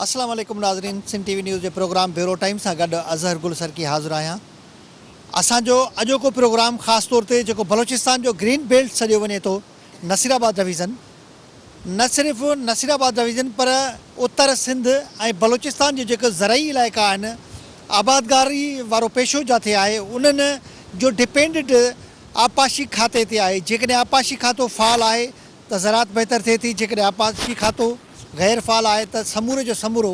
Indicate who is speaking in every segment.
Speaker 1: اسلام عليڪم ناظرين سنڌ ٽي وي نيوز جي پروگرام بيورو ٽائيم سان گڏ اظهر گل سرڪي حاضر آهيان اسان جو اڄوڪو پروگرام خاص طور تي جيڪو بلوچستان جو گرين بيلٽ سڏيو وڃي ٿو نصير آباد ڊويزن نه صرف نصير آباد جا ويجهن پر اتر سنڌ ۽ بلوچستان جا جيڪي زرعي علائقا آهن آبادگاري وارو پيشو جاٿي آهي انهن جو ڊپينڊنٽ آبپاشي کاتي تي آهي جيڪڏهن آبپاشي کاتو فعال آهي ته زراعت بهتر ٿئي ٿي جيڪڏهن آبپاشي کاتو غير فعال آهي ته سموري جو سمورو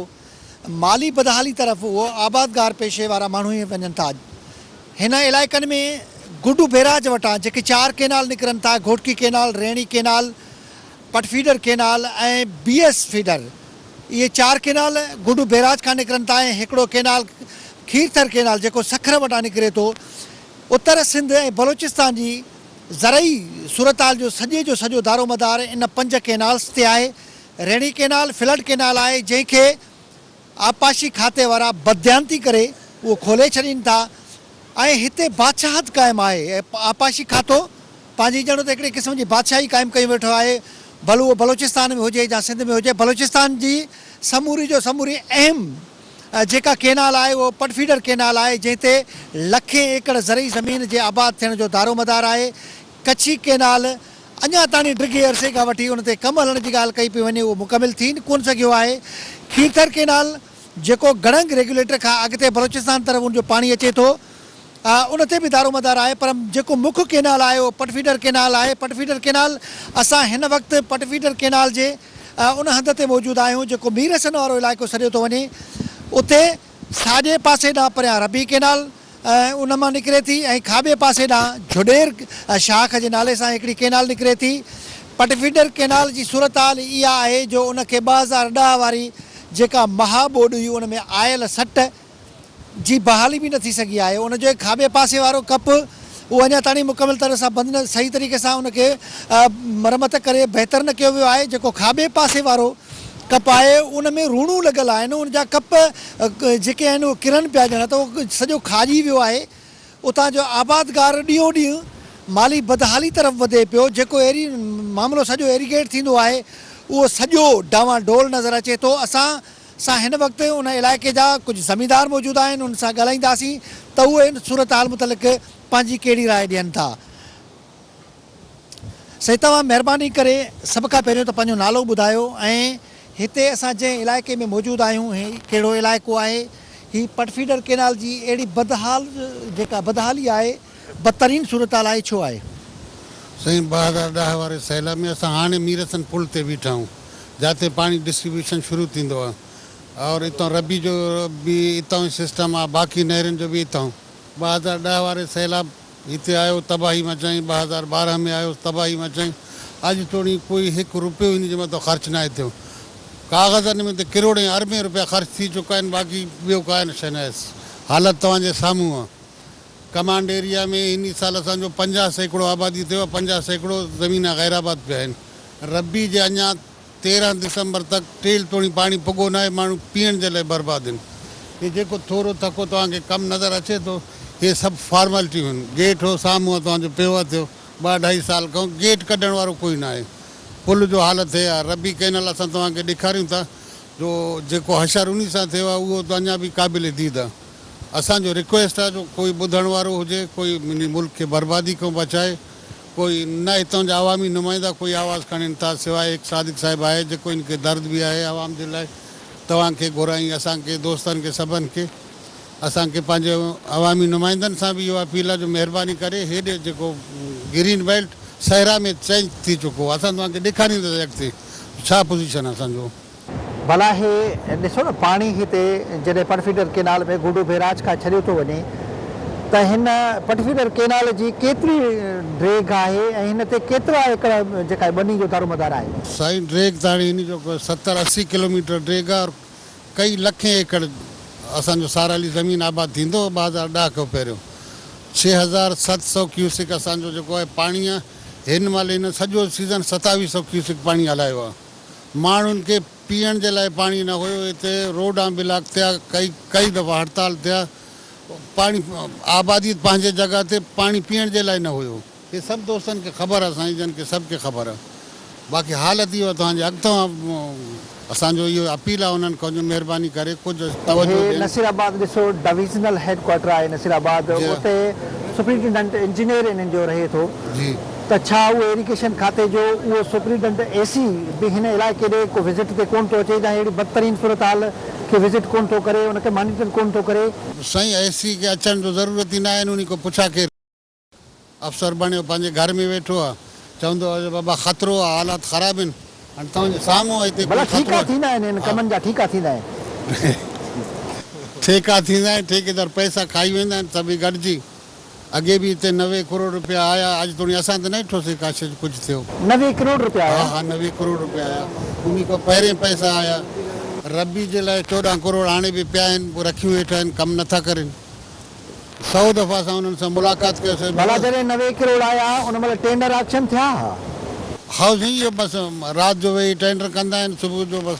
Speaker 1: مالي بدحالي طرف اهو آبادگار پيشي وارا ماڻهو ئي وڃن ٿا. هن علائقن ۾ گڊو بيراج وٽان جيڪي چار ڪينال نڪرن ٿا، Ghotki canal, Rainee canal, Pat feeder canal ۽ B S feeder, اهي چار ڪينال گڊو بيراج کان نڪرن ٿا ۽ هڪڙو ڪينال کيرٿر ڪينال جيڪو سکر وٽان نڪري ٿو، اتر سنڌ ۽ بلوچستان جي زرعي صورتحال جو سڄي جو سڄو دارومدار ان پنج ڪينالز تي آهي، ريڻي ڪينال فلڊ ڪينال آهي جنهن کي آبپاشي کاتي وارا بدديانتي ڪري اهو کولي ڇڏين ٿا ۽ هتي بادشاهت قائم آهي آبپاشي کاتو پنهنجي ڄڻ ته هڪڙي قسم جي بادشاهي قائم ڪيون ويٺو آهي ڀل اهو بلوچستان ۾ هجي يا سنڌ ۾ هجي بلوچستان جي سموري جو سموري اهم جيڪا ڪينال آهي اهو پٽفيڊر ڪينال آهي جنهن تي لکين ايڪڙ زرعي زمين جي آباد ٿيڻ جو دارومدار آهي ڪڇي ڪئنال اڃا تاڻي ڊگهي عرصي کان وٺي ان تي ڪم هلڻ جي ڳالهه ڪئي پئي وڃي اهو مڪمل ٿي ڪونه سگهيو آهي، کيرٿر ڪئنال جيڪو گڙهنگ ريگيوليٽر کان اڳتي بلوچستان طرف ان جو پاڻي اچي ٿو ان تي به دارومدار آهي پر جيڪو مک ڪئنال آهي اهو پٽفيڊر ڪئنال آهي پٽفيڊر ڪئنال اسان هن وقت پٽفيڊر ڪئنال جي ان هنڌ تي موجود آهيون جيڪو ميرحسن وارو علائقو سڏيو ٿو وڃي اتي ساڄي پاسي ڏانهن پريان ربي ڪئنال ان مان نڪري ٿي ۽ کاٻي پاسي ڏانهن جھوڏير شاخ جي نالي سان هڪڙي ڪئنال نڪري ٿي. پٽفيڊر ڪئنال جي صورتحال اها آهي جو ان کي ٻه هزار ڏهه واري جيڪا مها ٻوڏ هئي ان ۾ آيل سٽ جي بحالي به نه ٿي سگهي آهي. ان جوئي کاٻي پاسي وارو ڪپ اهو اڃا تائڻي مڪمل طرح سان بند نه صحيح طريقي سان ان کي مرمت ڪري بهتر نه ڪيو ويو آهي جيڪو کاٻي پاسي وارو ڪپ آهي ان ۾ روڻون لڳل آهن ان جا ڪپ جيڪي آهن اهي ڪرن پيا ڄڻ ته اهو سڄو کاڄي ويو آهي اتان جو آبادگار ڏينهون ڏينهن مالي بدحالي طرف وڌي پيو جيڪو ايري معاملو سڄو ايريگيٽ ٿيندو آهي اهو سڄو ڊانوا ڊول نظر اچي ٿو اسان سان هن وقت ان علائقي جا ڪجهه زميندار موجود آهن انهن سان ڳالهائينداسين ته اهي ان صورتحال متعلق پنهنجي ڪهڙي راء ڏين ٿا سائين توهان مهرباني ڪري سڀ کان پهريون ته پنهنجو نالو ٻڌايو ۽ هتي اسان جنهن علائقي ۾ موجود آهيون هي ڪهڙو علائقو آهي هي پٽ فيڊر ڪينال جي اهڙي بدحال جيڪا بدحالي آهي بدترين صورتحال آهي ڇو آهي؟ سائين ٻه
Speaker 2: هزار ڏهه واري سيلاب ۾ اسان هاڻي ميرسن پل تي بيٺا آهيون جاتي پاڻي ڊسٽريبيوشن شروع ٿيندو آهي اور اتان ربي جو به اتان ئي سسٽم آهي باقي نهرين جو به اتان ٻه هزار ڏهه واري سيلاب هتي آيو تباهي مچائين ٻه هزار ٻارهن ۾ آيو تباهي مچائين اڄ توڻي ڪوئي هڪ روپيو هن جي مٿان خرچ ناهي ٿيو ڪاغذن ۾ ته ڪروڙين اربين روپيا خرچ ٿي چڪا آهن باقي ٻيو ڪائين شئي ناهي حالت توهان جي سامهون آهي. ڪمانڊ ايريا ۾ هن سال اسان جو پنجاهه سيڪڙو آبادي ٿيو آهي، پنجاهه سيڪڙو زمينا غير آباد پيا آهن، ربيع جي اڃا تيرهن دسمبر تڪ ٽيل توڻي پاڻي پڳو ناهي، ماڻهو پيئڻ جي لاء برباد آهن. هي جيڪو ٿورو ٿڪو توهان کي ڪم نظر اچي ٿو، هي سڀ فارملٽيون آهن، گيٽ هو سامهون توهان جو پيو اٿيو، ٻه اڍائي سال کان گيٽ ڪڍڻ وارو ڪوئي ناهي، پل جو حالت هي آهي، ربيع ڪينال اسان توهان کي ڏيکاريون ٿا جو جيڪو حشر انهي سان ٿيو آهي اهو ته اڃا به قابل ديد آهي. اسان جو رڪويسٽ آ جو ڪوئي ٻڌڻ وارو هجي ڪوئي انهي ملڪ کي بربادي کان بچائي ڪوئي نه هتان جا عوامي نمائندا ڪوئي آواز کڻين ٿا سواء هڪ صادق صاحب آهي جيڪو ان کي درد به آهي عوام جي لاء توهان کي گهرائين اسان کي دوستن کي سڀن کي اسان کي پنهنجي عوامي نمائندن سان به اهو اپيل آ جو مهرباني ڪري هيڏي جيڪو گرين بيلٽ صحرا ۾ چينج ٿي چڪو اسان توهان کي ڏيکارينداسين اڳتي ڇا پوزيشن آ اسان جو. ڀلا هي
Speaker 1: ڏسو نه پاڻي هتي جڏهن پٽفيڊر ڪينال ۾ گهوڊو بيراج کان ڇڏيو ٿو وڃي ته هن پٽفيڊر ڪينال جي ڪيتري ڊيگهه آهي ۽ هن تي ڪيترا ايڪڙ جيڪا ٻني جو دارومدار آهي. سائين ڊيگهه ته هاڻي
Speaker 2: هن جو ستر اسي ڪلوميٽر ڊيگهه آهي اور ڪئي لکين ايڪڙ اسان جو سارالي زمين آباد ٿيندو ٻه هزار ڏهه کان پهريون ڇهه هزار ست سؤ ڪيوسڪ اسان جو جيڪو آهي پاڻي آهي هن مهل هن سڄو سيزن ستاويهه سؤ ڪيوسڪ پاڻي هلايو آهي. ماڻهن کي پيئڻ جي لاء پاڻي نه هيو، هتي روڊان بلاڪ ٿيا، ڪئين دفعا هڙتال ٿيا، پاڻي آباديت پنهنجي جڳهه تي پاڻي پيئڻ جي لاء نه هيو. هي سڀ دوستن کي خبر آ سائين جن کي سڀ کي خبر آ باقي حالت اهو آ توهان جي اڳتان اسان جو اهو اپيل آ انهن کان جو مهرباني ڪري ڪجهه توجهه ڏين. نصير آباد
Speaker 1: ڏسو ڊويزنل هيڊ ڪوارٽر آهي نصير آباد اتي سپرنٽنڊنٽ انجنيئر انهن جو رهي ٿو. ته ڇا
Speaker 2: اهو
Speaker 1: ايريگيشن کاتي جو اهو سپريڊنٽ اي سي به هن علائقي ڏي ڪو وزٽ تي ڪونه ٿو اچي جا اهڙي بدترين صورتحال کي وزٽ ڪونه ٿو ڪري ان کي مانيٽر ڪونه ٿو ڪري. سائين اي سي کي
Speaker 2: اچڻ جو ضرورت ئي ناهي نوني ڪو پڇا ڪير. افسر بڻيو پنهنجي گهر ۾ ويٺو آ چوندو آ جو بابا خطرو آ حالات خراب هين هاڻي توهان جي سامهون آ هتي ڪوئي ڀلا ٺيڪا ٿيندا آهن
Speaker 1: هن
Speaker 2: ڪمن
Speaker 1: جا
Speaker 2: ٺيڪا
Speaker 1: ٿيندا آهن.
Speaker 2: ٺيڪا ٿيندا آهن ٺيڪيدار پئسا کائي ويندا آهن سڀئي گڏجي. اڳي به اتي نوي ڪروڙ روپيا آيا اڄ توڻي اسان ته ناهي ٺوسي ڪاشي جو ڪجهه ٿيو. نوي ڪروڙ روپيا آيا.
Speaker 1: ها ها نوي ڪروڙ روپيا
Speaker 2: آيا انهي کان پهرين پئسا آيا. ربي جي لاء چوڏهن ڪروڙ هاڻي به پيا آهن پوء رکيون هيٺ آهن ڪم نه ٿا ڪرين سئو دفعا اسان انهن سان ملاقات ڪيوسين ڀلا ڀيڻ. جڏهن نوي ڪروڙ
Speaker 1: آيا ان مهل ٽينڊر آڪشن ٿيا ها. هائو
Speaker 2: سائين اهو بس رات جو ويهي ٽينڊر ڪندا آهن صبح جو بس.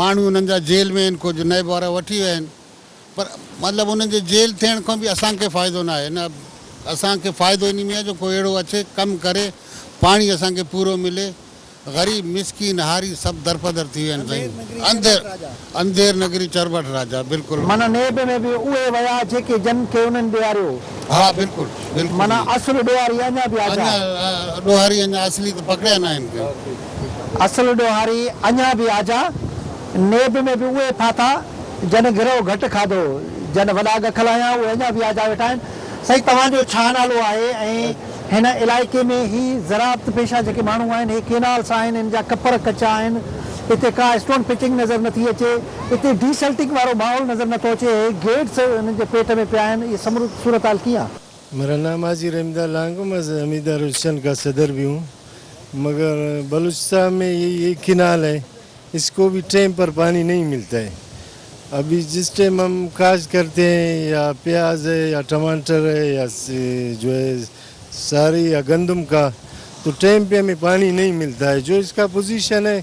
Speaker 2: ماڻهو انهن جا جيل ۾ آهن ڪجهه نئب وارا وٺي ويا آهن پر مطلب انهن جي جيل ٿيڻ کان به اسان کي فائدو نه آهي نه اسان کي فائدو انهي ۾ آهي جو ڪو اهڙو اچي ڪم ڪري پاڻي اسان کي پورو ملي غريب مسڪين هاري سڀ درپدر ٿي ويا آهن سائين انڌير انڌير نگري چرٻٺ راجا بلڪل. معنيٰ نيب ۾ به
Speaker 1: اهي ويا جيڪي جن کي انهن ڏياريو. ها بلڪل
Speaker 2: بلڪل. معنيٰ اصل ڏوهاري
Speaker 1: اڃا به آجا. اڃا ڏوهاري
Speaker 2: اڃا اصلي ته پڪڙيا ناهن ڪنهن. اصل ڏوهاري
Speaker 1: اڃا به آجا نيب ۾ به اهي ڦاٿا جن گرهه گهٽ کاڌو جن وڏا ڳک لاهيا اهي اڃا به آجا ويٺا آهن. سائين توهان جو ڇا نالو آهي ۽ هن علائقي ۾ هي زراعت پيشه جيڪي ماڻهو آهن هي ڪينالس آهن هن جا ڪپر ڪچا آهن هتي ڪا اسٽون پچنگ نظر نٿي اچي هتي ڊي سلٽنگ وارو ماحول نظر نٿو اچي هي گيٽس هنن جي پيٽ ۾ پيا آهن اهي سمورو صورتحال ڪيئن مولانا ماضي
Speaker 3: رحمت الله عنه ڪم از امير دار الشن کا صدر بي هون مگر بلوچستان مين يي يي ڪينال هي اس کو بي ٽيم پر پاني نهين ملتا هي ابي جس ٽيم هم کاش کرتي هين يا پياز هي يا ٽماٽر هي يا جو هي ساري يا گندم کا تو ٽيم پي همي پاني نهين ملتا هي جو اس کا پوزيشن هي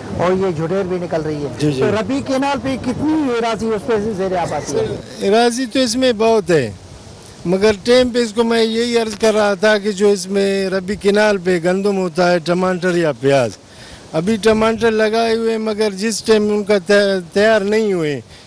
Speaker 1: هو يي جھڙير بي نڪل رهي هي تو ربي ڪينال
Speaker 3: پي
Speaker 1: ڪتني ايراضي اس پي زير آبادي هي. ايراضي تو اس مي
Speaker 3: بهت هي مگر ٽيم پي اس ڪو مين يي عرض ڪر رها ٿا ڪي جو اس مي ربي ڪينال پي گندم هوتا هي ٽمانٽر يا پياز ابي ٽمانٽر لگائي هئي مگر جس ٽيم ان ڪا تيار نهي هئي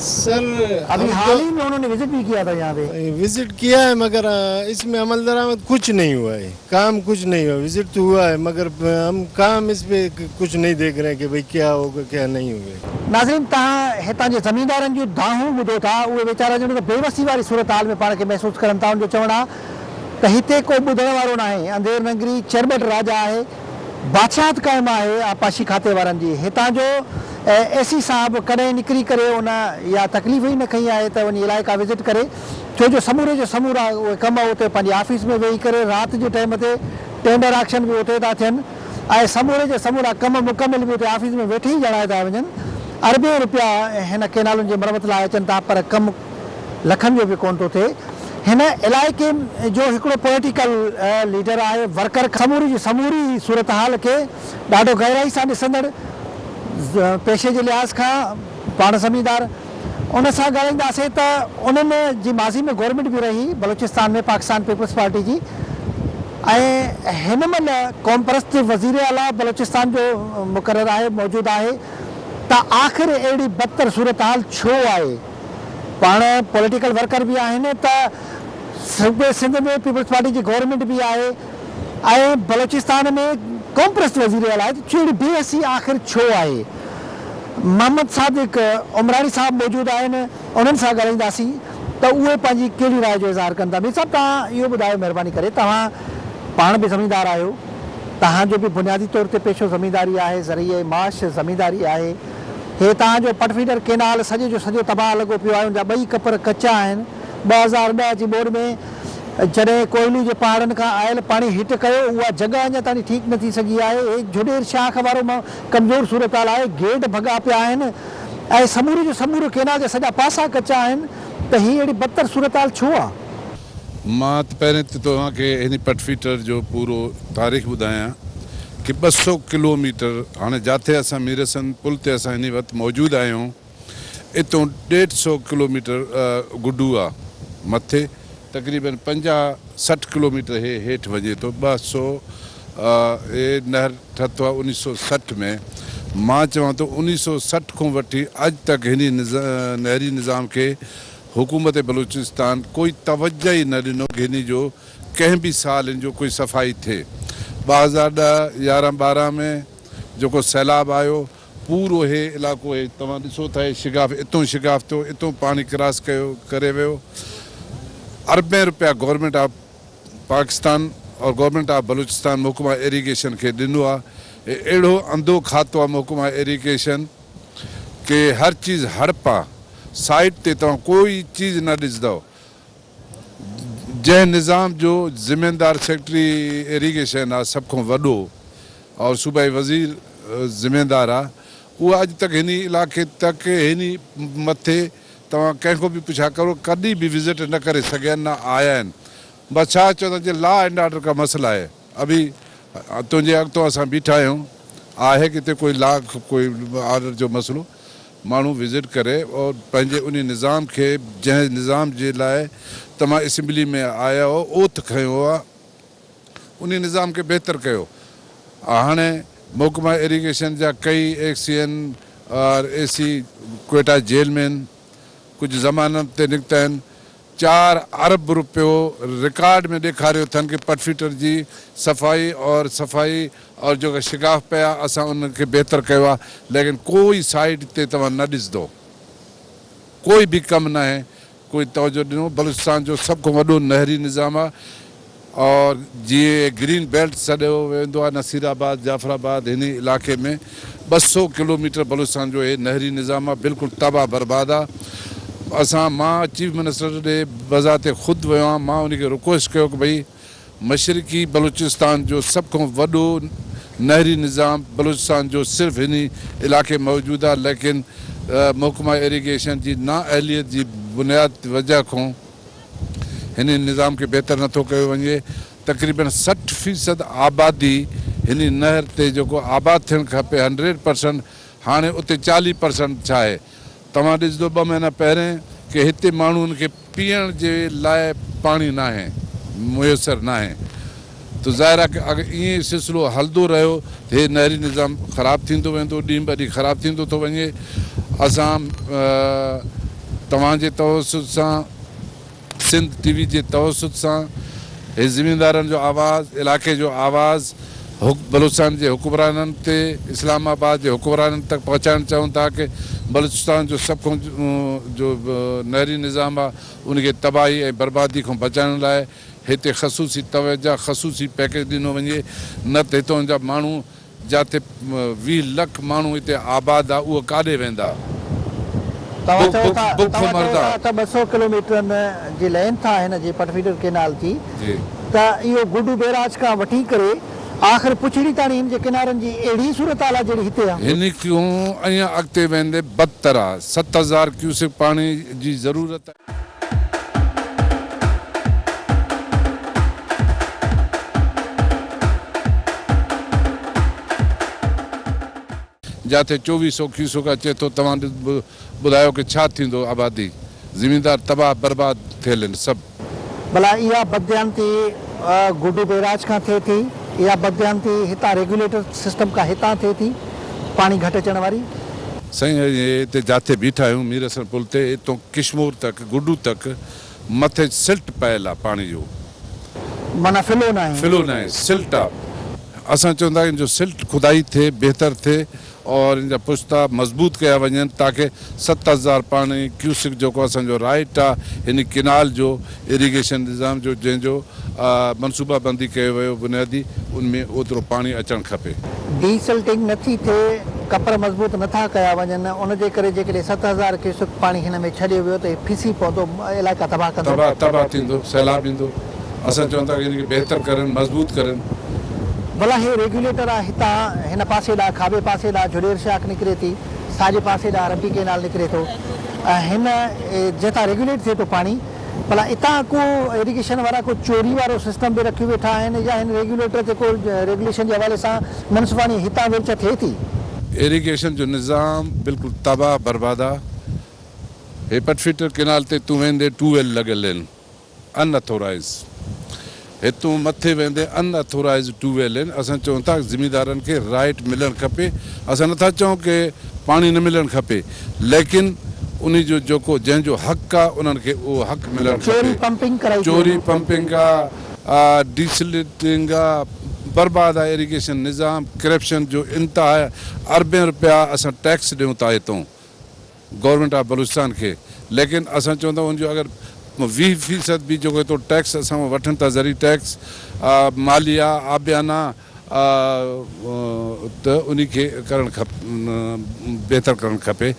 Speaker 1: سر
Speaker 3: ابھی حال
Speaker 1: ہي مي انھو ني وزيٽ بھي کيا تھا يھان پي. وزيٽ کيا ھي مگر
Speaker 3: اس مي عمل درآمد کچھ نھي ھوا ھي کام کچھ نھي ھوا وزيٽ تو ھوا ھي مگر ھم کام اس پي کچھ نھي ديک رھي کي بھي کيا ھوگا کيا نھي ھوگا. ناظرين تهان
Speaker 1: هتان جي زميندارن جون دانهون ٻڌو ٿا اهي ويچارا ڄڻ ته بيوسي واري صورتحال ۾ پاڻ کي محسوس ڪرن ٿا ان جو چوڻ آ ته هتي ڪو ٻڌڻ وارو ناهي انڌير ننگري چرٻٽ راجا آهي بادشاهت قائم آهي آبپاشي کاتي وارن جي هتان جو اي سي صاحب ڪڏهن نڪري ڪري ان اها تڪليف ئي نه کنئي آهي ته وڃي علائقا وزٽ ڪري ڇو جو سموري جا سمورا اهي ڪم اتي پنهنجي آفيس ۾ ويهي ڪري رات جي ٽائيم تي ٽينڊر آڪشن به اتي ٿا ٿين ۽ سموري جا سمورا ڪم مڪمل به اتي آفيس ۾ ويٺي ئي جڻائي ٿا وڃن اربين روپيا هن ڪينالن جي مرمت لاء اچن ٿا پر ڪم لکن جو به ڪونه ٿو ٿئي هن علائقي جو هڪڙو پوليٽيڪل ليڊر آهي ورڪر سموري جي سموري صورتحال کي ڏاڍو گهرائي سان ڏسندڙ پيشي جي لحاظ کان پاڻ زميندار ان سان ڳالهائينداسين ته انهن جي ماضي ۾ گورنمينٽ به رهي بلوچستان ۾ پاڪستان پيپلز پارٽي جي ۽ هن مهل قومپرست وزير اعليٰ بلوچستان جو مقرر آهي موجود آهي ته آخر اهڙي بدتر صورتحال ڇو آهي. پاڻ پوليٽيڪل ورڪر به آهن ته صوبي سنڌ ۾ پيپلز پارٽي جي گورنمينٽ به آهي ۽ بلوچستان ۾ قومپرست وزير اعليٰ آهي ته اهڙي بي حسي آخر ڇو آهي؟ محمد صادق عمراڻي صاحب موجود آهن انهن سان ڳالهائينداسين ته اهي پنهنجي ڪهڙي راء جو اظهار ڪن ٿا. مير صاحب توهان اهو ٻڌايو مهرباني ڪري توهان پاڻ به زميندار آهيو توهان جو به بنيادي طور تي پيشو زمينداري آهي زرعي معاش زمينداري آهي. هي تان جو پٽ فيڊر ڪينال سڄي جو سڄو تباهه لڳو پيو آهي ان جا ٻئي ڪپر ڪچا آهن ٻه هزار ڏهه جي ٻوڏ ۾ جڏهن ڪوهلو جي پهاڙن کان آيل پاڻي هٽ ڪيو اها جڳهه اڃا تائين ٺيڪ نه ٿي سگهي آهي هي جهوڏير شاخ وارو م ڪمزور صورتحال آهي گيڊ ڀڳا پيا آهن ۽ سموري جو سمورو ڪينال جا سڄا پاسا ڪچا آهن ته هي اهڙي بدتر صورتحال ڇو آهي. مان
Speaker 4: ته پهرين ته توهان کي هن پٽفيٽر جو پورو تاريخ ٻڌايان ڪي ٻه سئو ڪلو ميٽر هاڻي جاٿي اسان ميرسند پل تي اسان هني وقت موجود آهيون اتون ڏيڍ سئو ڪلو ميٽر گڊو آ مٿي تقريبن پنجاهه سٺ ڪلو ميٽر هي هيٺ وڃي ٿو ٻه سئو هي نهر ٺهتو آ انيس سئو سٺ ۾ مان چوان ٿو انيس سئو سٺ کون وٺي اڄ تڪ هني نهري نظام کي حڪومت بلوچستان ڪوئي توجه ئي نه ڏنو گهني جو ڪنهن به سال ان جو ڪوئي صفائي ٿئي ٻه هزار ڏهه يارهن ٻارهن ۾ جيڪو سيلاب آيو پورو هي علاقو هي توهان ڏسو ٿا هي شگاف اتون شگاف ٿيو اتون پاڻي ڪراس ڪيو ڪري ويو اربين روپيا گورنمينٽ آف پاڪستان اور گورنمينٽ آف بلوچستان محڪمه ايريگيشن کي ڏنو آ هي اهڙو انڌو کاتو آ محڪمه ايريگيشن ڪي هر چيز هڙپا سائيٽ تي توهان ڪو ئي چيز نه ڏسدؤ جنهن نظام جو ذميدار سيڪريٽري ايريگيشن آ سڀ کون وڏو اور صوبائي وزير ذميدار آ اهو اڄ تڪ هني علاقي تڪ هني مٿي توهان ڪنهن کون به پڇا ڪرو ڪڏي به وزٽ نه ڪري سگهيا نه آيا آهن بس ڇا چوندو جي لا اينڊ آرڊر ڪا مسئلا هي. ابي! تنهنجي اڳتو اسان بيٺا آهيون. آهي ڪٿي ڪوئي لا ڪوئي آرڊر جو مسئلو؟ ماڻهو وزٽ ڪري اور پنهنجي انهي نظام کي جنهن نظام جي لاء توهان اسيمبلي ۾ آيا هو اوٿ کنيو آ انهي نظام کي بهتر ڪيو هاڻي محڪمه ايريگيشن جا ڪئي ايڪ سي اين آر اي سي ڪوئيٽا جيل ۾ هن ڪجهه ضمانت تي نڪتا آهن چار ارب رپيو رڪارڊ ۾ ڏيکاريو اٿن ڪي پٽفيٽر جي صفائي اور صفائي اور جيڪا شگاف پيا اسان ان کي بهتر ڪيو آ ليڪن ڪوئي سائيڊ تي توهان نه ڏسدو ڪوئي به ڪم ناهي ڪوئي توجه ڏنو بلوچستان جو سڀ کان وڏو نهري نظام آ اور جيئن هي گرين بيلٽ سڏيو ويندو آهي نصير آباد جعفر آباد هن علائقي ۾ ٻه سؤ ڪلوميٽر بلوچستان جو هي نهري نظام آهي بلڪل تباهه برباد آهي اسان مان چيف منسٽر ڏي بذات خود ويو آهيان مان ان کي رڪويسٽ ڪيو ڪه ڀئي مشرقي بلوچستان جو سڀ کان وڏو نهري نظام بلوچستان جو صرف هن علائقي ۾ موجود آهي ليڪن محڪمه ايريگيشن جي نااهليت جي بنياد وجهه کان هن نظام کي بهتر نه ٿو ڪيو وڃي، تقريبن سٺ فيصد آبادي هن نهر تي جيڪو آباد ٿيڻ کپي هنڊريڊ پرسنٽ هاڻي اتي چاليهه پرسنٽ ڇاهي توهان ڏسدو ٻه مهينا پهرين ڪي هتي ماڻهون کي پيئڻ جي لاء پاڻي ناهي ميسر ناهي ته ظاهر آهي ته اگر ائين ئي سلسلو هلندو رهيو ته هي نهري نظام خراب ٿيندو ويندو، ڏينهن به ڏينهن خراب ٿيندو ٿو وڃي. اسان توهان جي توسط سان، سنڌ ٽي وي جي توسط سان هي زميندارن جو آواز، علائقي جو آواز بلوچستان جي حڪمرانن تي اسلام آباد جي حڪمرانن تڪ پهچائڻ چاهيون ٿا ته بلوچستان جو سڀ کان جو نهري نظام آهي ان کي تباهي ۽ بربادي کان بچائڻ لاء هتي خصوصي توجه يا خصوصي پيڪيج ڏنو وڃي نه ته هتان جا ماڻهو جاتي ويهه لک ماڻهو هتي آباد آ اهي ڪاڏي ويندا. توهان چئو ٿا توهان
Speaker 1: چئو ٿا ته ٻه سؤ ڪلوميٽرن جي لينٿ آ هن جي پٽ فيڊر ڪئنال جي ته اهو گڊو بيراج کان وٺي ڪري آخر پڇڙي تاڻي هن جي ڪنارن جي اهڙي صورتحال آ جهڙي هتي آ. هن کان
Speaker 4: ائين اڳتي ويندي بدتر آ. ست هزار ڪيوسڪ پاڻي جي ضرورت آ. جاتي چوويھ سئو کيسوڪا چئي ٿو توھان ٻڌايو ڪي ڇا ٿيندو آبادي زميندار تباھ برباد ٿيل ھين سڀ. ڀلا اها
Speaker 1: بدديانتي گڊو بيراج کان ٿئي ٿي يا بدديانتي هتان ريگيوليٽر سسٽم کان هتان ٿئي ٿي پاڻي گهٽ اچڻ واري. سائين اهي
Speaker 4: هتي جاٿي بيٺا آهيون ميرحسن پل تي اتو ڪشمور تڪ، گڊو تڪ، مٿي سلٽ پيل آ پاڻي جو. معنيٰ
Speaker 1: ڦلو ناهي. ڦلو ناهي، سلٽ آ.
Speaker 4: اسان چوندا آهيون جو سلٽ کدائي ٿئي، بهتر ٿئي اور ان جا پشتا مضبوط ڪيا وڃن تاڪه ست هزار پاڻي ڪيوسڪ جيڪو اسان جو رائٽ آ هن ڪينال جو، ايريگيشن نظام جو جنهن جو منصوبه بندي ڪيو ويو بنيادي ان ۾ اوترو پاڻي اچڻ کپي. ڊي سلٽنگ نه
Speaker 1: ٿي ٿئي، ڪپر مضبوط نه ٿا ڪيا وڃن، ان جي ڪري جيڪڏهن ست هزار ڪيوسڪ پاڻي هن ۾ ڇڏيو ويو ته هي ڦسي پوندو علائقا تباهه ڪندو. تباهه تباهه ٿيندو،
Speaker 4: سيلاب ايندو، اسان چون ٿا ته ان کي بهتر ڪرن، مضبوط ڪرن. ڀلا هي
Speaker 1: ريگيوليٽر آ هتان هن پاسي ڏانهن کاٻي پاسي ڏانهن جهڏير شاخ نڪري ٿي، ساڄي پاسي ڏانهن رپي ڪينال نڪري ٿو، هن جنهن تان ريگيوليٽ ٿئي ٿو پاڻي ڀلا اتان ڪو ايريگيشن وارا ڪو چوري وارو سسٽم به رکيو ويٺا آهن يا هن ريگيوليٽر تي ڪو ريگيوليشن جي حوالي سان منصفاڻي هتان ويلچ ٿئي ٿي. ايريگيشن جو
Speaker 4: نظام بلڪل تباهه برباده هي پٽ فيٽر ڪينال تي تون ويندي ٽو ويل لڳل هين ان اٿورائيز هتون مٿي ويندي ان اٿورائيز ٽيوب ويل آهن اسان چون ٿا زميندارن کي رائيٽ ملڻ کپي اسان نٿا چئون ڪي پاڻي نه ملڻ کپي ليڪن انهي جو جيڪو جنهن جو حق آ انهن کي اهو حق ملڻ کپي چوري پمپنگ آ ڊي سلٽنگ آ برباد آ ايريگيشن نظام ڪرپشن جو انتها اربين روپيا اسان ٽيڪس ڏيون ٿا هتون گورنمينٽ آف بلوچستان کي ليڪن اسان چون ٿا ان جو اگر ويهه فيصد به جيڪو ايترو ٽيڪس اسان کان وٺن ٿا زرعي ٽيڪس ماليه آبيانا ته انهي کي ڪرڻ کپ بهتر ڪرڻ کپي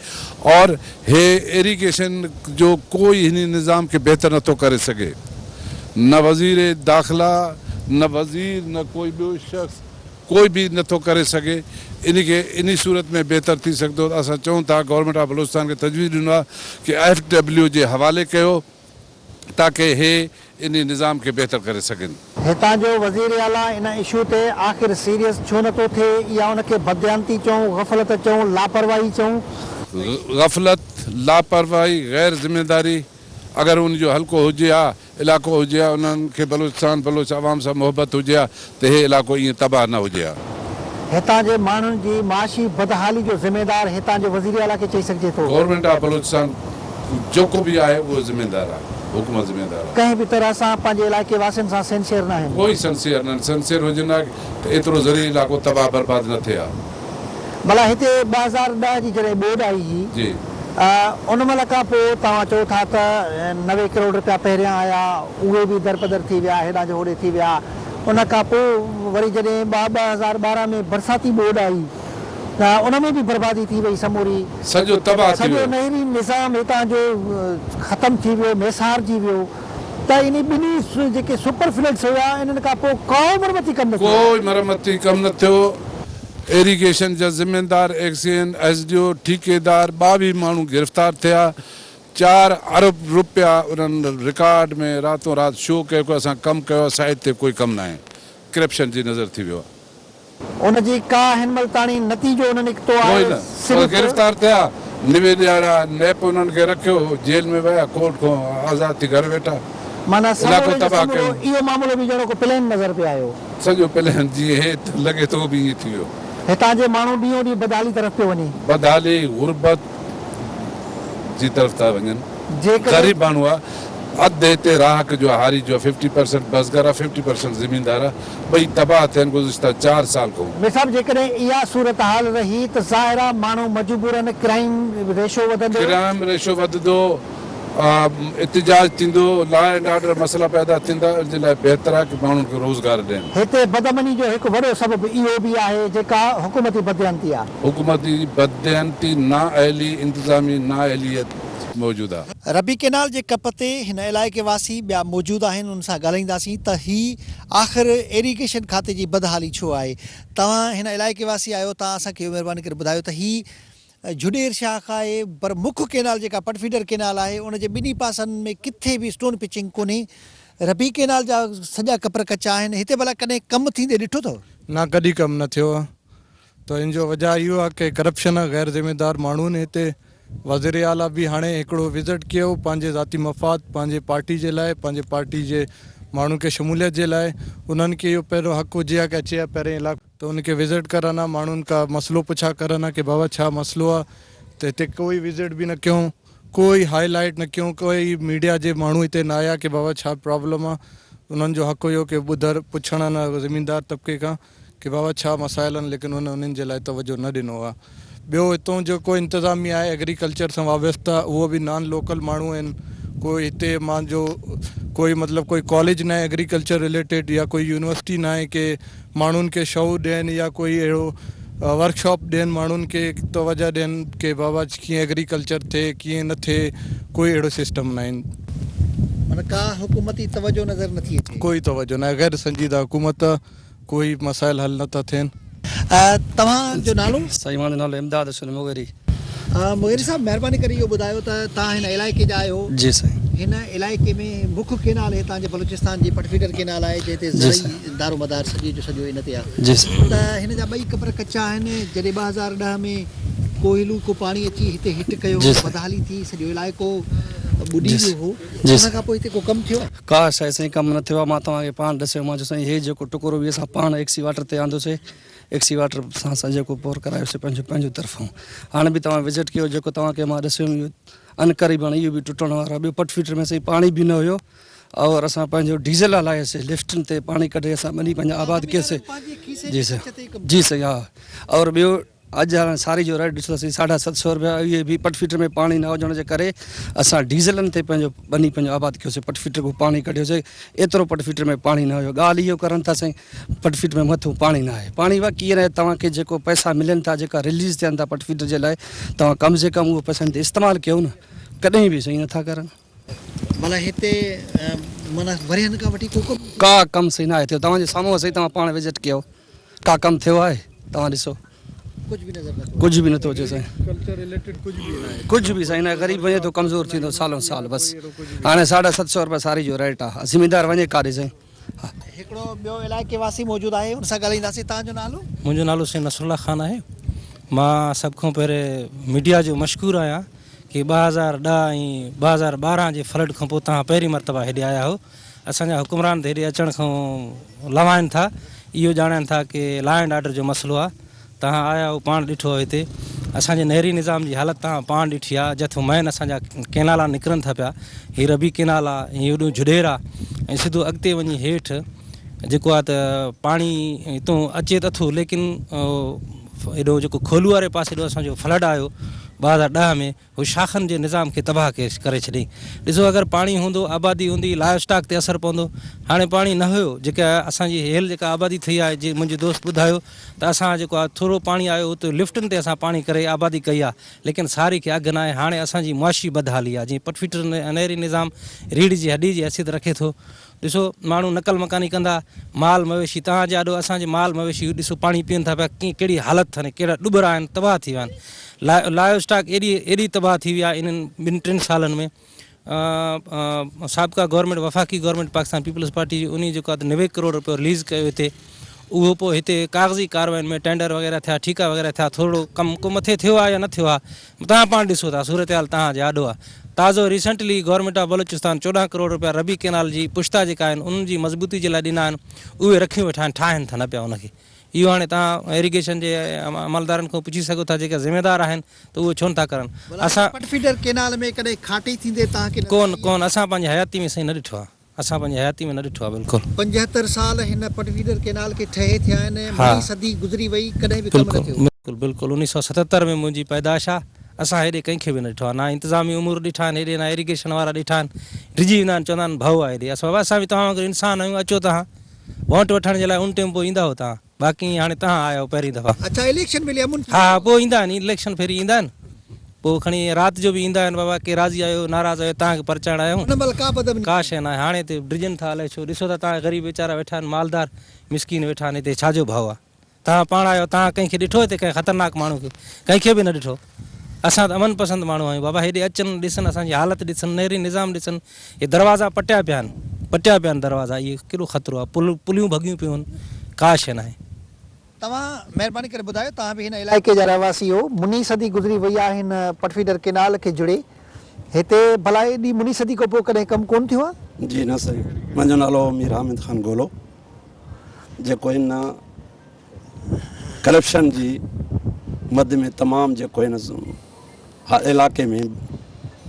Speaker 4: اور هي ايريگيشن جو ڪوئي هني نظام کي بهتر نٿو ڪري سگهي نه وزير داخلا نه وزير نه ڪوئي ٻيو شخص ڪوئي به نه ٿو ڪري سگهي ان کي انهي صورت ۾ بهتر ٿي سگهندو ته اسان چئون ٿا گورنمينٽ آف بلوچستان کي تجويز ڏنو آهي ڪي ايف ڊبليو جي حوالي ڪيو تاڪي هي انهي نظام کي بهتر ڪري سگهن. هتان جو وزير
Speaker 1: اعليٰ ان اشو تي آخر سيريس ڇو نه ٿو ٿئي يا ان کي بدديانتي چئون، غفلت چئون، لاپرواهي چئون؟ غفلت،
Speaker 4: لاپرواهي، غير ذميواري اگر ان جو هلڪو هجي ها علاقو هجي ها انهن کي بلوچستان بلوچ عوام سان محبت هجي ها ته هي علاقو ائين تباهه نه هجي ها. هتان جي
Speaker 1: ماڻهن جي معاشي بدحالي جو ذميدار هتان جي وزير اعليٰ کي چئي سگهجي ٿو. گورنمينٽ آف بلوچستان
Speaker 4: جيڪو به آهي اهو ذميدار آهي حڪومت ذميدار آهي. ڪنهن به طرح سان پنهنجي
Speaker 1: علائقي واسين سان سنسيئر ناهن. ڪوئي سنسيئر ناهن سنسيئر
Speaker 4: هجن ها ته ايترو زرعي علاقو تباهه برباد نه ٿئي ها. ڀلا
Speaker 1: هتي ٻه هزار ڏهه جي جڏهن ٻوڏ آئي هئي
Speaker 4: ان مهل
Speaker 1: کان پوء توهان چئو ٿا ته نوي ڪروڙ رپيا پهريان آيا اهي به درپدر ٿي ويا هيڏانهن جو هوڏي ٿي ويا ان کان پوء وري جڏهن ٻه ٻه هزار ٻارهن ۾ برساتي ٻوڏ آئي ته ان ۾ به بربادي ٿي وئي سموري سڄو
Speaker 4: نهري
Speaker 1: نظام
Speaker 4: هتان
Speaker 1: جو ختم ٿي ويو ميسارجي ويو. ته انهي ٻنهي جيڪي سپر فلڊس هيا انهن کان پوء ڪائو مرمتي ڪم نه ٿيو. ڪوئي مرمتي ڪم
Speaker 4: نه ٿيو، ايريگيشن جا زميندار ايڪسين، ايس ڊي او، ٺيڪيدار ٻاويهه ماڻهو گرفتار ٿيا، چار ارب رپيا انهن رڪارڊ ۾ راتون رات شو ڪيو ڪو اسان ڪم ڪيو آهي سائيٽ تي ڪوئي ڪم ناهي ڪرپشن جي نظر ٿي ويو آهي. ان جي
Speaker 1: ڪا هن مھل تاڻي نتيجو نه نڪتو آهي، ڪوئي نه پر صرف.
Speaker 4: گرفتار
Speaker 1: ٿيا،
Speaker 4: نوي ڏيھاڙا نيپ انهن کي رکيو، جيل ۾ ويا، ڪورٽ کان آزاد ٿي گهر ويٺا، معنيٰ سمورو علائقو جو
Speaker 1: تباھ سمورو ڪيون.
Speaker 4: اهو معاملو به ڄڻ ڪو
Speaker 1: پلين نظر پئي آيو. سڄو پلين
Speaker 4: جيئن هي ته لڳي ٿو اهو به ائين ٿي ويو. هتان جي ماڻهو
Speaker 1: ڏينهون ڏينهن بدحالي طرف پيو وڃي. بدحالي، غربت
Speaker 4: جي طرف ٿا وڃن. جيڪڏهن. غريب
Speaker 1: ماڻهو آ،
Speaker 4: اڌ هتي راهڪ جو آ، هاري جو آ، ففٽي پرسنٽ بسگر آ، ففٽي پرسنٽ زميندار آ، ٻئي تباهه ٿين گذشته چار سال کان. مير صاحب جيڪڏهن اها
Speaker 1: صورتحال رهي ته ظاهر آ ماڻهو مجبورن ڪرائيم ريشو وڌندو. ڪرائيم ريشو وڌندو،
Speaker 4: احتجاج ٿيندو، لا اينڊ آرڊر مسئلا پيدا ٿيندا ان جي لاء بهتر آهي ڪه ماڻهن کي روزگار ڏين. هتي بدامني جو
Speaker 1: هڪ وڏو سبب اهو به آهي جيڪا حڪومتي بدديانتي آ.
Speaker 4: حڪومتي بدديانتي، نااهلي، انتظامي
Speaker 1: نااهليت
Speaker 4: موجود آ. ربي ڪئنال جي ڪپ
Speaker 1: تي هن علائقي واسي ٻيا موجود آهن انهن سان ڳالهائينداسين ته هي آخر ايريگيشن کاتي جي بدحالي ڇو آهي توهان هن علائقي واسي آهيو توهان اسان کي اهو مهرباني ڪري ٻڌايو ته هي جهڏير شاخ آهي پر مک ڪئنال جيڪا پٽ فيڊر ڪئنال آهي ان جي ٻنهي پاسن ۾ ڪٿي به اسٽون پچنگ ڪونهي ربي ڪئنال جا سڄا ڪپر ڪچا آهن هتي ڀلا ڪڏهن ڪم ٿيندي ڏٺو اٿو. نه ڪڏهن ڪم نه
Speaker 3: ٿيو. ته ان جو وجهه اهو آهي ڪي ڪرپشن ۽ غير ذميدار ماڻهن هتي وزير اعليٰ به هاڻي هڪڙو وزٽ ڪيو پنهنجي ذاتي مفاد پنهنجي پارٽي جي لاء پنهنجي پارٽي جي ماڻهن کي شموليت جي لاء انهن کي اهو پهريون حق هجي ها ڪي اچي ها پهرين علائقو ته ان کي وزٽ ڪرن ها ماڻهن کان مسئلو پڇا ڪرن ها ڪي بابا ڇا مسئلو آهي ته هتي ڪوئي وزٽ به نه ڪيون ڪوئي هائي لائيٽ نه ڪيون ڪوئي ميڊيا جي ماڻهو هتي نه آيا ڪي بابا ڇا پرابلم آهي انهن جو حق هيو ڪي ٻڌر پڇڻ ان زميندار طبقي کان ڪي بابا ڇا مسائل آهن ليڪن هن انهن جي لاء توجه نه ڏنو آهي ٻيو هتون جيڪو انتظاميه آهي ايگريڪلچر سان وابسته اهو به نان لوڪل ماڻهو آهن ڪوئي هتي مان جو ڪوئي مطلب ڪوئي ڪاليج نه ايگريڪلچر رليٽيڊ يا ڪوئي يونيورسٽي نه آهي ڪي ماڻهن کي شعور ڏين يا ڪوئي اهڙو ورڪ شاپ ڏين ماڻهن کي توجه ڏين ڪي بابا ڪيئن ايگريڪلچر ٿئي ڪيئن نه ٿئي ڪوئي اهڙو سسٽم نه آهن معنيٰ
Speaker 1: ڪا حڪومتي توجه نظر نٿي اچي. ڪوئي توجه نه آهي غير
Speaker 3: سنجيده حڪومت. ڪوئي مسائل حل نه ٿا ٿين. توهان
Speaker 1: جو نالو؟ سائين مانجو نالو امداد
Speaker 5: حسين مغيري. مغيري
Speaker 1: صاحب مهرباني ڪري اهو ٻڌايو ته توهان هن علائقي جا آهيو. جي سائين. هن
Speaker 5: علائقي
Speaker 1: ۾ مک ڪينال هتان جي بلوچستان جي پٽ فيڊر ڪينال آهي جنهن تي زرعي دارومدار سڄي جو سڄو ان تي آهي. جي سائين. ته هن جا
Speaker 5: ٻئي ڪپر
Speaker 1: ڪچا آهن جڏهن ٻه هزار ڏهه ۾ ڪوهيلو ڪو پاڻي اچي هتي هٽ ڪيو هو بدحالي ٿي سڄو علائقو ٻڏي ويو هو ان کان پوء هتي ڪو ڪم ٿيو آهي؟ ڪا شيء سائين ڪم نه
Speaker 5: ٿيو آ، مان توهان کي پاڻ ڏسيو مان جو سائين هي جيڪو ٽڪرو به اسان پاڻ ايڪسي واٽر تي آندو سي ايڪسي واٽر سان اسان جيڪو پور ڪرايو سي پنهنجو پنهنجو طرفون هاڻ به توهان وزٽ ڪيو جيڪو توهان کي مان ڏسيم اهو ان ڪري به هاڻ اهو به ٽٽڻ وارو آ ٻيو پٽ فيٽر ۾ سائين پاڻي به نه هيو اور اسان پنهنجو ڊيزل هلايو سي لفٽن تي پاڻي ڪڍي اسان ٻني پنهنجا آباد ڪيو سي جي سائين جي سائين ها اور ٻيو اڄ هاڻ ساري جو ريٽ ڏسنداسين ساڍا ست سئو روپيا اهي به پٽ فيڊر ۾ پاڻي نه هجڻ جي ڪري اسان ڊيزلن تي پنهنجو ٻني پنهنجو آباد ڪيوسي پٽ فيڊر کان پاڻي ڪڍيوسي ايترو پٽ فيڊر ۾ پاڻي نه هيو ڳالهه اهو ڪرن ٿا سائين پٽ فيڊر ۾ مٿو پاڻي نه آهي پاڻي واقعي ڪيئن رهي توهان کي جيڪو پئسا ملن ٿا جيڪا رليز ٿين ٿا پٽ فيڊر جي لاء توهان ڪم سي ڪم اهو پئسن تي استعمال ڪيو نه ڪڏهن به سائين نٿا ڪرن. معنيٰ
Speaker 1: هتي معنيٰ ورهين کان وٺي ڪو ڪم. ڪا ڪم سائين
Speaker 5: ناهي ٿيو توهان جي سامهون سائين توهان پاڻ وزٽ ڪيو. ڪا ڪم ٿيو آهي توهان ڏسو ڪجهه به نظر نٿو ڪجهه به نٿو اچي سائين ڪلچر ريليٽيڊ ڪجهه به ناهي ڪجهه به سائين نه غريب وڃي ٿو ڪمزور ٿيندو سالو سال بس هاڻي ساڍا ست سو روپيا ساري جو ريٽ آهي زميندار وڃي ڪاڏي سائين هڪڙو
Speaker 1: ٻيو علائقي واسي موجود آهي ان سان ڳالهائينداسين تان جو نالو منهنجو نالو سائين نصر الله
Speaker 6: خان آهي مان سڀ کان پهرين ميڊيا جو مشڪور آهيان ڪي ٻه هزار ڏهه ۽ ٻه هزار ٻارهن جي فلڊ کان پوء توهان پهرين مرتبه هيڏي آيا هو اسان جا حڪمران ته هيڏي اچڻ کان لوائن ٿا، اهو ڄاڻائين ٿا ڪي لا اينڊ آرڊر جو مسئلو آ، تهان آيا هئو پاڻ ڏٺو آ هتي، اسان جي نهري نظام جي حالت تهان پاڻ ڏٺي آ، جٿو مئن اسان جا ڪينالا نڪرن ٿا پيا، هي ربي ڪينال آ، هي هيڏو جهڏير آ ۽ سڌو اڳتي وڃي هيٺ جيڪو آ ته پاڻي هتون اچي ته اٿو ليڪن هيڏو جيڪو کولو واري پاسي ڏو اسان جو فلڊ آيو ٻه هزار ڏهه ۾ هو شاخن جي نظام کي تباهه ڪري ڇڏي. ڏسو اگر پاڻي هوندو، آبادي هوندي، لائيو اسٽاڪ تي اثر پوندو. هاڻي پاڻي نه هيو، جيڪا اسان جي هيل جيڪا آبادي ٿئي آهي، جي منهنجي دوست ٻڌايو ته اسان جيڪو آهي ٿورو پاڻي آيو اتي لفٽن تي اسان پاڻي ڪري آبادي ڪئي آهي، ليڪن ساري کي اگهه ناهي. هاڻي اسان جي معاشي بدحالي آهي، جيئن پٽ فيڊر نهري نظام ريڙهه جي هڏي جي حيثيت رکي ٿو، ڏسو ماڻهو نقل مڪاني ڪندا مال مويشي توهان جي آڏو اسان جي مال مويشي ڏسو پاڻي پين ٿا پيا ڪيئن ڪهڙي حالت ٿن ڪهڙا ڏٻرا آهن تباهه ٿي ويا آهن لايو اسٽاڪ ايڏي ايڏي تباهه ٿي وئي آهي انهن ٻن ٽن سالن ۾ سابقا گورنمينٽ وفاقي گورنمينٽ پاڪستان پيپلز پارٽي جي انهي جيڪو آهي نوي ڪروڙ روپيو رليز ڪيو هتي اهو پوء هتي ڪاغذي ڪارواين ۾ ٽينڊر وغيره ٿيا ٺيڪا وغيره ٿيا ٿورڙو ڪم ڪو مٿي ٿيو آهي يا نه ٿيو آهي توهان پاڻ ڏسو ٿا صورتحال تهان جي آڏو آ تازو ريسنٽلي گورنمينٽ آف بلوچستان چوڏهن ڪروڙ رپيا ربي ڪينال جي پشتا جيڪا آهن انهن جي مضبوطي جي لاء ڏنا آهن اهي رکيون ويٺا آهن ٺاهن ٿا نه پيا ان کي اهو هاڻي تهان ايريگيشن جي عملدارن کان پڇي سگهو ٿا جيڪا ذميدار آهن ته اهو ڇو نٿا ڪرن اسان پٽ فيڊر ڪينال ۾
Speaker 1: ڪڏهن کاٽي ٿيندي تهان کي نظر آئي آهي؟ ڪون ڪون اسان پنهنجي
Speaker 5: حياتي ۾ سائين نه ڏٺو آهي. اسان پنهنجي حياتي ۾ نه ڏٺو آهي بلڪل. پنجهتر سال هن
Speaker 1: پٽ فيڊر ڪينال کي ٺهي ٿيا آهن ۽ مڻي صدي گذري وئي ڪڏهن به ڪم نه ٿيو. بلڪل بلڪل انيس سئو ستهتر
Speaker 5: ۾ منهنجي پيدائش آ اسان هيڏي ڪنهن کي به نه ڏٺو آ نه انتظامي امور ڏٺا آهن هيڏي نه ايريگيشن وارا ڏٺا آهن ڊڄي ويندا آهن چوندا آهن ڀئو آ هيڏي اسان بابا اسان به توهان وانگر انسان آهيون اچو تهان وونٽ وٺڻ جي لاء ان ٽيم پوء ايندا هو تهان باقي هاڻي تهان آيا آهيو پهرين
Speaker 1: دفعا.
Speaker 5: اڇا اليڪشن ويلي امن ٿي ويو.
Speaker 1: ها ها
Speaker 5: پوء ايندا آهن اليڪشن پھرين ايندا آهن پوء
Speaker 6: کڻي رات جو به ايندا آهن بابا ڪي راضي آهيو ناراض آهيو تهان کي پرچائڻ آيا آهيون. ان مهل ڪا به ادب ني. ڪا
Speaker 1: شي ناهي هاڻي هتي
Speaker 6: ڊڄن ٿا الائي ڇو ڏسو ٿا تهان غريب ويچارا ويٺا آهن مالدار مسڪين ويٺا آهن هتي ڇا جو ڀئو آهي تهان پاڻ آيا آهيو تهان ڪنهن کي ڏٺو هتي ڪنهن خطرناڪ ماڻهو کي ڪنهن کي به نه ڏٺو. اسان ته امن پسند ماڻهو آهيون بابا هيڏي اچن ڏسن اسان جي حالت ڏسن نهري نظام ڏسن هي دروازا پٽيا پيا آهن پٽيا پيا آهن دروازا اهي ڪيڏو خطرو آهي پل پليون ڀڳيون پيون آهن ڪا شي ناهي. توهان
Speaker 1: مهرباني ڪري ٻڌايو توهان به هن علائقي جا رهواسي هو مني صدي گذري وئي آهي هن پٽفيڊر ڪينال کي جڙي هتي ڀلا ايڏي مني صدي کان پوء ڪڏهن ڪم ڪون ٿيو آهي. جي نه سائين
Speaker 7: منهنجو نالو مير حامد خان گولو جيڪو هن. ڪرپشن جي مد ۾ تمام جيڪو هن علائقي ۾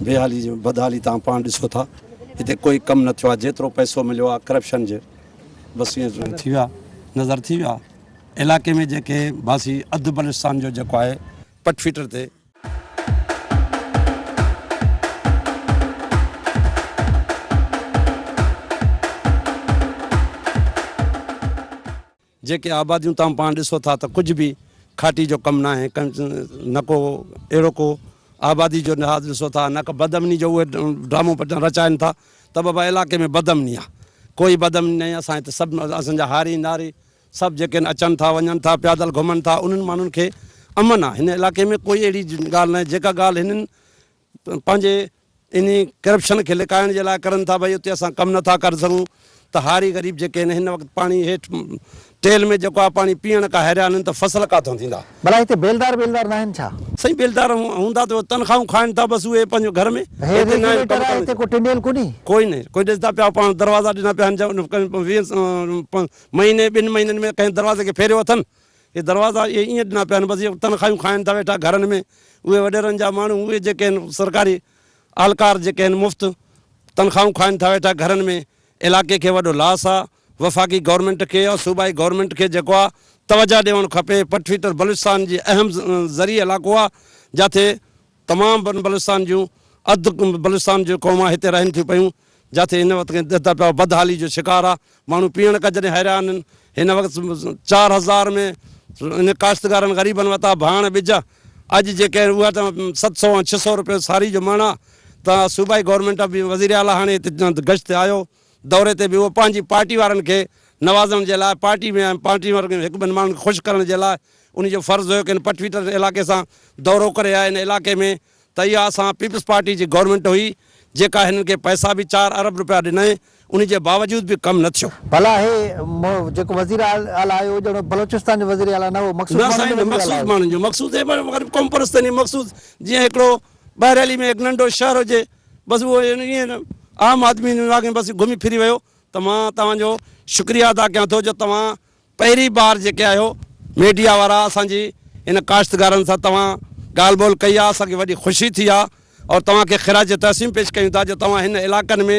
Speaker 7: بيحالي جو بدحالي تان پاڻ ڏسو ٿا هتي ڪوئي ڪم نه ٿيو آهي جيترو پئسو مليو آهي ڪرپشن جي بس ائين ٿي ويا نظر ٿي ويا علائقي ۾ جيڪي باسي اڌ بلوچستان جو جيڪو آهي پٽ فيٽر تي جيڪي آباديون توهان پاڻ ڏسو ٿا ته ڪجهه به کاٽي جو ڪم ناهي نه ڪو اهڙو ڪو آبادي جو لحاظ ڏسو ٿا نه ڪو بدامني جو اهي ڊرامو پٽان رچائن ٿا ته بابا علاقي ۾ بدامني آهي ڪوئي بدامني ناهي اسان هت سڀ اسان جا هاري ناري سڀ جيڪي آهن اچن ٿا وڃن ٿا پيادل گهمن ٿا انهن ماڻهن کي امن آهي هن علاقي ۾ ڪوئي اهڙي ڳالهه ناهي جيڪا ڳالهه هنن پنهنجي انهي ڪرپشن کي لڪائڻ جي لاء ڪرن ٿا ڀئي اتي اسان ڪم نٿا ڪري سگهون ته هاري غريب جيڪي آهن هن وقت پاڻي هيٺ ٽيل ۾ جيڪو آهي پاڻي پيئڻ کان هيريا آهن ته فصل ڪاٿو ٿيندا. ڀلا هتي بيلدار
Speaker 1: بيلدار ناهن ڇا؟ سائين بيلدار
Speaker 7: هوندا ته تنخواهون کائن ٿا بس اهي پنهنجو گهر ۾. هي ريگيوليٽر آهي هتي ڪو
Speaker 1: ٽنڊيل ڪونهي؟ ڪوئي نه ڪوئي ڏسندا
Speaker 7: پيا پاڻ دروازا ڏنا پيا آهن مهيني ٻن مهينن ۾ ڪنهن دروازي کي ڦيريو اٿن. اهي دروازا اهي ائين ڏنا پيا آهن، بس اهي تنخواهيون کائن ٿا ويٺا گهرن ۾، اهي وڏيرن جا ماڻهو، اهي جيڪي آهن سرڪاري اهلڪار جيڪي آهن مفت تنخواهون کائن ٿا ويٺا گهرن ۾، علائقي کي وڏو لاس آ، وفاقي گورنمينٽ کي يا صوبائي گورنمينٽ کي جيڪو آ توجهه ڏيوڻ کپي، پٽ ڦٽر بلوچستان جي اهم زرعي علائقو آ، جاٿي تمام بن بلستان جون اڌ بلستان جون قومان هتي رهن ٿيون پيون، جاٿي هن وقت ڪنهن دهته پيا بدحالي جو شڪار آ، ماڻهو پيئڻ ڪج ڏي حيران آهن، هن وقت چار هزار ۾ انهن ڪاشتڪارن غريبن وتا ڀاڻ ٻج اڄ جي ڪنهن اها ته ست سو ۽ ڇهه سو روپيو ساري جو مڻ آ ته صوبائي گورنمينٽ به وزير اعليٰ هاڻي هتي گشت تي آيو دوري تي به اهو پنهنجي پارٽي وارن کي نوازڻ جي لاء پارٽي ۾ پارٽي وارن هڪ ٻن ماڻهن کي خوش ڪرڻ جي لاء انهن جو فرض هيو ڪه هن پٺويٽر علائقي سان دورو ڪري آء ان علائقي ۾ ته اها اسان پيپلز پارٽي جي گورنمينٽ هئي جيڪا هنن کي پئسا به چار ارب روپيا ڏنائين انهي جي باوجود به ڪم نه ٿيو. ڀلا هي
Speaker 1: جيڪو وزير اعليٰ آيو هو ڄڻ بلوچستان جو وزير اعليٰ نه هو مخصوص نه ماڻهن سائين جو نه وزير اعليٰ مخصوص
Speaker 7: هو. ماڻهن جو مخصوص هي پر غريب قوم پرستن جي مخصوص جيئن هڪڙو ٻهريلي ۾ هڪ ننڍو شهر هجي بس اهو ائين عام آدمي ان علائقي ۾ بس گهمي ڦري ويو ته مان توهان جو شڪريه ادا ڪيان ٿو جو توهان پهرين بار جيڪي آهيو ميڊيا وارا اسان جي ان ڪاشتگارن سان توهان ڳالهه ٻولهه ڪئي آهي اسان کي وڏي خوشي ٿي آهي اور توهان کي خراج تحسين پيش ڪيون ٿا جو توهان هن علائقن ۾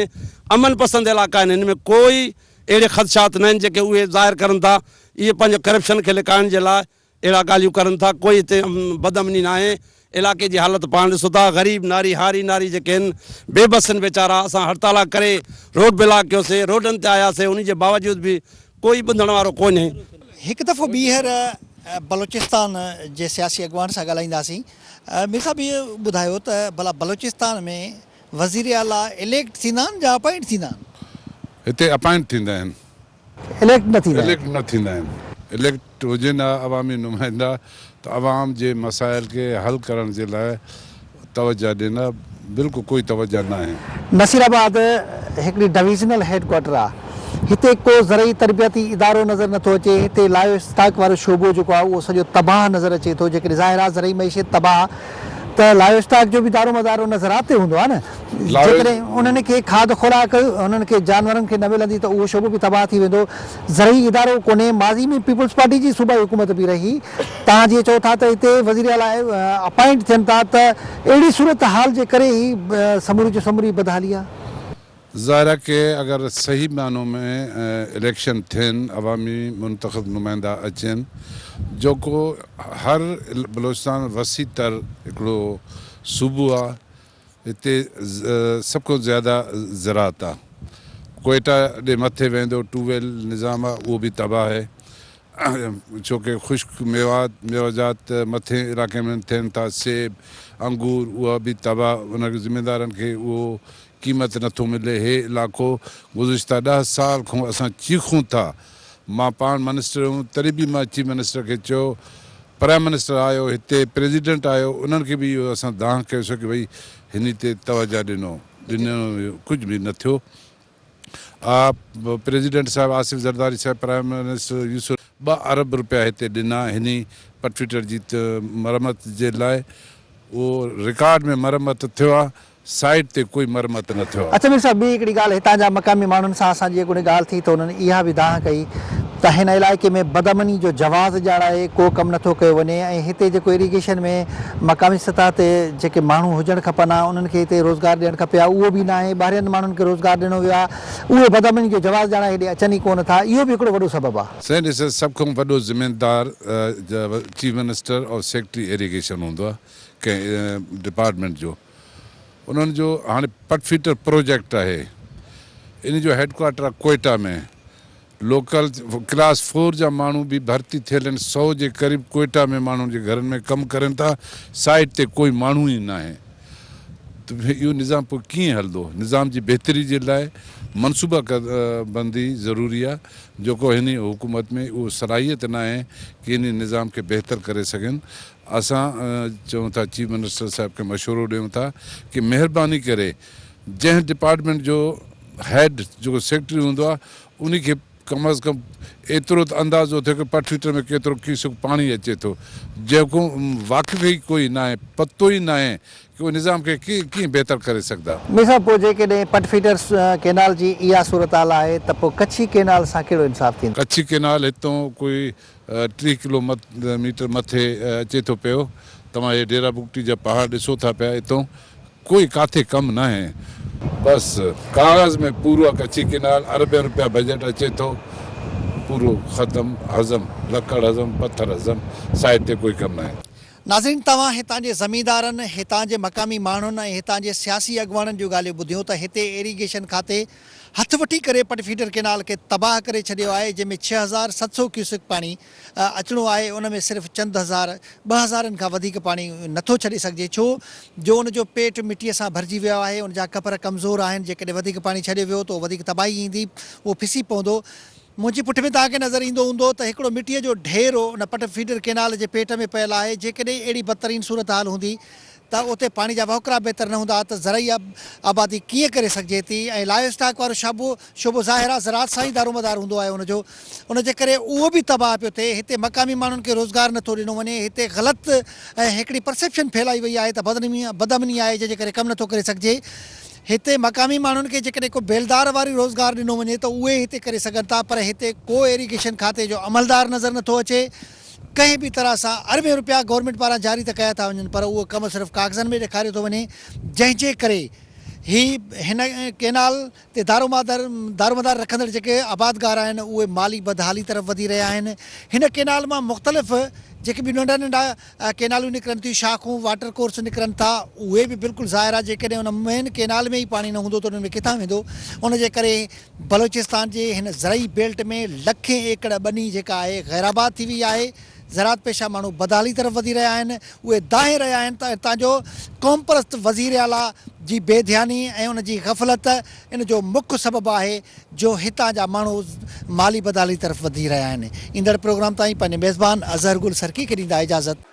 Speaker 7: امن پسند علائقا آهن هن ۾ ڪوئي اهڙي خدشات نه آهن جيڪي اهي ظاهر ڪرن ٿا اهي پنهنجو ڪرپشن کي لڪائڻ جي لاء اهڙا ڳالهيون ڪرن ٿا، ڪوئي هتي بدامني ناهي، علائقي جي حالت پاڻ ڏسو ٿا، غريب ناري هاري ناري جيڪي هن بي بس هن ويچارا، اسان هڙتالا ڪري روڊ بلاڪ ڪيو سي، روڊن تي آيا سي، انهي جي باوجود به ڪوئي ٻڌڻ وارو ڪونهي. هڪ دفعو
Speaker 1: ٻيهر بلوچستان جي سياسي اڳواڻ سان ڳالهائينداسين. مير صاحب اهو ٻڌايو ته ڀلا بلوچستان ۾ وزير اعليٰ اليڪٽ ٿيندا آهن جا اپائنٽ ٿيندا آهن؟ هتي اپائنٽ ٿيندا
Speaker 4: آهن. اليڪٽ نه
Speaker 1: ٿيندا اليڪٽ نه ٿيندا آهن.
Speaker 4: اليڪٽ هجن ها عوامي نمائندا ته عوام جي مسائل کي حل ڪرڻ جي لاء توجه ڏين ها بلڪل ڪوئي توجه ناهي. نصير آباد
Speaker 1: هڪڙي ڊويزنل هيڊ ڪوارٽر آ هتي ڪو زرعي تربيتي ادارو نظر نٿو اچي هتي لايو اسٽاڪ وارو شعبو جيڪو آ اهو سڄو تباهه نظر اچي ٿو جيڪڏهن ظاهر آ زرعي معيشت تباهه ته لائيو اسٽاڪ جو به دارومدار ان زراعت تي هوندو آهي نه. جيڪڏهن انهن کي کاڌ خوراڪ انهن کي جانورن کي نه ملندي ته اهو شعبو به تباهه ٿي ويندو. زرعي ادارو ڪونهي، ماضي ۾ پيپلز پارٽي جي صوبائي حڪومت به رهي. توهان جيئن چئو ٿا ته هتي وزير اعليٰ اپائنٽ ٿين ٿا ته اهڙي صورتحال جي ڪري هي سموري جو سموري بدحالي آهي. ظاهر آهي
Speaker 4: ڪي اگر صحيح معنو ۾ اليڪشن ٿين عوامي منتخب نمائندا اچين جوڪو هر بلوچستان وسيع تر هڪڙو صوبو آهي هتي سڀ کان زياده زراعت آهي ڪوئيٽا ڏي مٿي ويندو ٽو ويل نظام آهي اهو به تباهه آهي ڇوڪه خشڪ ميوات ميواجات مٿين علاقي ۾ ٿين ٿا سيب انگور اها به تباهه ان ذميدارن کي اهو قيمت نه ٿو ملي هي علاقو گذشته ڏهه سال کون اسان چيخون ٿا مان پاڻ منسٽر هيم تڏهن به مان چيف منسٽر کي چيو پرائم منسٽر آيو هتي پريزيڊنٽ آيو انهن کي به اهو اسان دانهن ڪيو سو ڪي ڀئي هني تي توجه ڏنو ڏنو ڪجهه به نه ٿيو آ پريزيڊنٽ صاحب آصف زرداري صاحب پرائم منسٽر يوسف ٻه ارب رپيا هتي ڏنا هني پٽفيٽر جي مرمت جي لاء اهو رڪارڊ ۾ مرمت ٿيو آ سائيٽ تي ڪوئي مرمت نه ٿيو آهي. اچ مير صاحب ٻي هڪڙي ڳالهه هتان
Speaker 1: جا مقامي ماڻهن سان اسان جي اڳوڻي ڳالهه ٿي ته انهن اها به دانهن ڪئي ته هن علائقي ۾ بدامني جو جواز ڄاڻائي ڪو ڪم نه ٿو ڪيو وڃي ۽ هتي جيڪو اريگيشن ۾ مقامي سطح تي جيڪي ماڻهو هجڻ کپن ها انهن کي هتي روزگار ڏيڻ کپي ها اهو به ناهي ٻاهرين ماڻهن کي روزگار ڏنو ويو آهي اهي بدامني جو جواز ڄاڻائي هيڏي اچن ئي ڪو نه ٿا اهو به هڪڙو وڏو سبب آهي. سائين ڏسو سڀ کان وڏو
Speaker 4: ذميدار چيف منسٽر اور سيڪريٽري ايريگيشن هوندو آهي ڪنهن ڊپارٽمينٽ جو انهن جو هاڻي پٽ فيٽر پروجيڪٽ آهي ان جو هيڊ ڪوارٽر آهي ڪوئيٽا ۾ لوڪل ڪلاس فور جا ماڻهو به ڀرتي ٿيل آهن سئو جي قريب ڪوئيٽا ۾ ماڻهن جي گهرن ۾ ڪم ڪرين ٿا سائيٽ تي ڪوئي ماڻهو ئي ناهي ته اهو نظام پوء ڪيئن هلندو نظام جي بهتري جي لاء منصوبه بندي ضروري آهي جيڪو هن حڪومت ۾ اهو صلاحيت ناهي ڪي ان نظام کي بهتر ڪري سگهن اسان چون ٿا چيف منسٽر صاحب کي مشورو ڏيون ٿا ڪي مهرباني ڪري جنهن ڊپارٽمينٽ جو هيڊ جيڪو سيڪريٽري هوندو آ انهي کي ڪم از ڪم ايترو ته اندازو ٿئي ڪي پٺيٽر ۾ ڪيترو ڪيسڪ پاڻي اچي ٿو جيڪو واقف ئي ڪوئي ناهي پتو ئي ناهي ڪي ان نظام کي ڪيئن بهتر ڪري سگهدا. مير صاحب پوء جيڪڏهن
Speaker 1: پٺفيٽر ڪينال جي اها صورتحال آهي ته پوء ڪڇي ڪينال سان ڪهڙو انصاف ٿيندو؟ ڪڇي ڪينال هتون
Speaker 4: ڪوئي. ٽيهه ڪلو ميٽر مٿي اچي ٿو پيو توهان هي ڊيرا بگٽي جا پهاڙ ڏسو ٿا پيا اتون ڪوئي ڪاٿي ڪم ناهي. بس ڪاغذ ۾ پورو ڪڇي ڪينال اربين روپيا بجيٽ اچي ٿو پورو ختم هضم لڪڙ هضم پٿر هضم سائيٽ تي ڪوئي ڪم ناهي. ناظرين توهان
Speaker 1: هتان جي زميندارن هتان جي مقامي ماڻهن ۽ هتان جي سياسي اڳواڻن جون ڳالهيون ٻڌيون ته هتي ايريگيشن کاتي هٿ وٺي ڪري پٽ فيڊر ڪينال کي تباهه ڪري ڇڏيو آهي جنهن ۾ ڇهه هزار ست سؤ ڪيوسڪ پاڻي اچڻو آهي ان ۾ صرف چند هزار ٻه هزارن کان وڌيڪ پاڻي نٿو ڇڏي سگهجي ڇو جو ان جو پيٽ مٽيء سان ڀرجي ويو آهي ان جا ڪپر ڪمزور آهن جيڪڏهن وڌيڪ پاڻي ڇڏيو ويو ته وڌيڪ تباهي ايندي اهو پسي پوندو منهنجي پٺ ۾ توهان کي نظر ايندو هوندو ته هڪڙو مٽيء جو ڍير ان پٽ فيڊر ڪينال جي پيٽ ۾ پيل آهي جيڪڏهن اهڙي بدترين صورتحال هوندي ته اتي پاڻي جا وهڪرا بهتر نه هوندا ته زرعي آبادي ڪيئن ڪري سگهجي ٿي ۽ لائيو اسٽاڪ وارو شعبو شعبو ظاهر آهي زراعت سان ئي دارومدار هوندو آهي ان جو ان جي ڪري اهو به تباهه پيو ٿئي هتي مقامي ماڻهن کي روزگار نه ٿو ڏنو وڃي هتي غلط ۽ هڪڙي پرسيپشن ڦهلائي وئي آهي ته بدنمي بدامني آهي جنهن جي ڪري ڪم نه ٿو ڪري سگهجي هتي مقامي ماڻهن کي جيڪڏهن ڪو بيلدار واري روزگار ڏنو وڃي ته اهي هتي ڪري سگهن ٿا پر هتي ڪو ايريگيشن کاتي جو عملدار نظر نه ٿو اچي ڪنهن به طرح سان اربين رپيا گورنمينٽ پاران جاري ته ڪيا ٿا وڃن پر اهو ڪم صرف ڪاغذن ۾ ڏيکاريو ٿو وڃي جنهن جي ڪري هي هن ڪينال تي دارومدار رکندڙ جيڪي آبادگار آهن اهي مالي بدحالي طرف وڌي رهيا آهن هن ڪينال مان مختلف جيڪي به ننڍا ننڍا ڪيناليون نڪرن ٿيون شاخون واٽر ڪورس نڪرن ٿا اهي به بلڪل ظاهر آهي جيڪڏهن ان مين ڪينال ۾ ئي پاڻي نه هوندو ته انهن ۾ ڪٿان ويندو ان جي ڪري بلوچستان جي هن زرعي بيلٽ ۾ لکين ايڪڙ ٻني جيڪا آهي غير آباد ٿي وئي آهي، زراعت پيشه ماڻهو بدحالي طرف وڌي رهيا آهن، اهي دانهين رهيا آهن ته هتان جو قومپرست وزير اعليٰ جي بي ڌياني ۽ ان جي غفلت ان جو مک سبب آهي جو هتان جا ماڻهو مالي بدحالي طرف وڌي رهيا آهن. ايندڙ پروگرام تائين پنهنجي ميزبان اظهر گل سرڪي کي ڏيندا اجازت.